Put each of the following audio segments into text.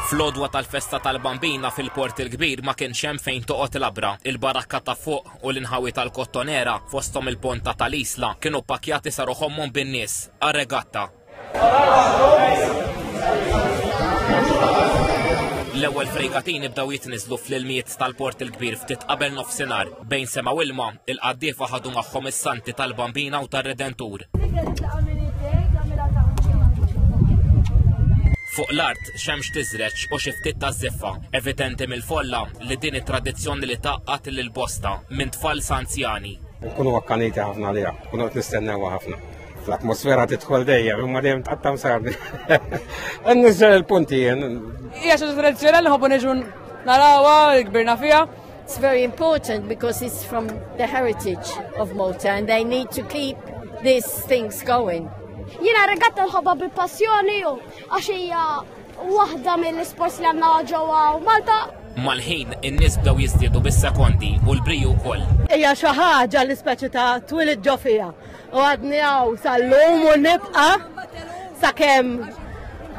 Fl-odwa tal-festa tal-bambina fil-port il-kbir ma kienx hemm fejn toqgħod labra. Il-barakka ta' fuq u l-inħawi tal-kottonera fosthom il-ponta tal-Isla kienu pakjati sa ruħomhom bin-nies għar-regatta. L-ewwel fregatini bdew jitniżlu fl-ilmijiet tal-port il-kbir ftit qabel nofsinhar. Bejn sema u ilma, il-qaddiefa ħadu magħhom is-Santi tal-Bambina u tar-Redentur. Fuq l-art xemx tiżreċ u xi ftit ta' żiffa, evidenti mill-folla li din it-tradizzjoni li taqqat lil bosta minn tfal sa anzjani. Nkunu akkaniti ħafna liha, kunu qed nistennewha ħafna. Fl-atmosfera tidħol dejjem, imma dejjem tqattam sardi. Nniżel il-punti jien. Hija xi tradizzjoni li ħobbu neġu narawha, kbirna fiha. It's very important because it's from the heritage of Malta and they need to keep these things going. Jina regatta l-ħabba bi passjoni u għax hija waħda mill-isports li għandna ġewwa Malta Mal-ħin, in-nies bdew jiżdiedu bis-sekondi u l-briju wkoll. Hija xi ħaġa li speċi ta' twilid ġo fiha. U għadni għaw sal-lum u nibqa sa' kem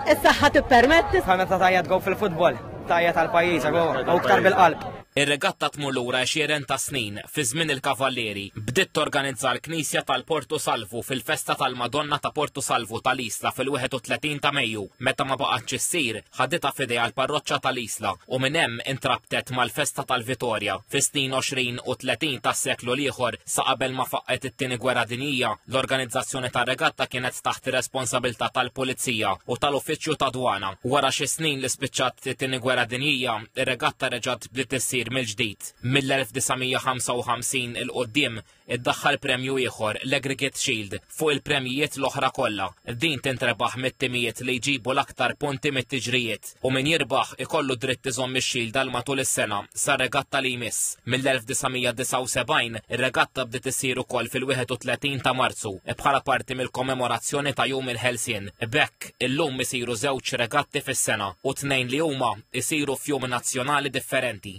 is-saħħa tippermetti. Ħana ta' tajja tgow fil-futbol, tajja tal-pajjiż, u ktar bil-qalb. Ir-regatta tmur lura għexieren ta' snin, fi żmien il-Kavallieri. Bdiet torganizza l-Knisja tal-Portu Salvu fil-festa tal-Madonna ta' Portu Salvu tal-Isla fil-31 ta' Mejju, meta ma baqgħetx issir. ħaditha f'idejha l-parroċċa tal-Isla u minn hemm intrabtet mal-festa tal-Vitorja. Fis-snin 20 u 30 tas-seklu l-ieħor, sa qabel ma faqqgħet it-Tieni Gwerra Dinjija, l-organizzazzjoni tar-regatta kienet taħt ir-responsabilità tal-Pulizija u tal-Uffiċċju ta' Dwana. Wara xi snin li spiċċat it-Tieni Gwerra Dinjija, ir-regatta reġgħet bdiet issir mill-ġdid. Mill-1955 'il quddiem, iddaħħal premju ieħor, l-Aggregate Shield, fuq il-premjijiet l-oħra kollha. Din tintrebaħ mit-timijiet li jġibu l-aktar punti mit-tiġrijiet u min jirbaħ ikollu dritt iżomm ix-Shield għal matul is-sena sar-regatta li jmiss. Mill-1979 ir-regatta bdiet issir ukoll fil-31 ta' Marzu bħala parti mill-kommemorazzjoni ta' Jum il-Ħelsien. Bekk illum isiru żewġ regatti fis-sena u tnejn li huma isiru f'jum nazzjonali differenti.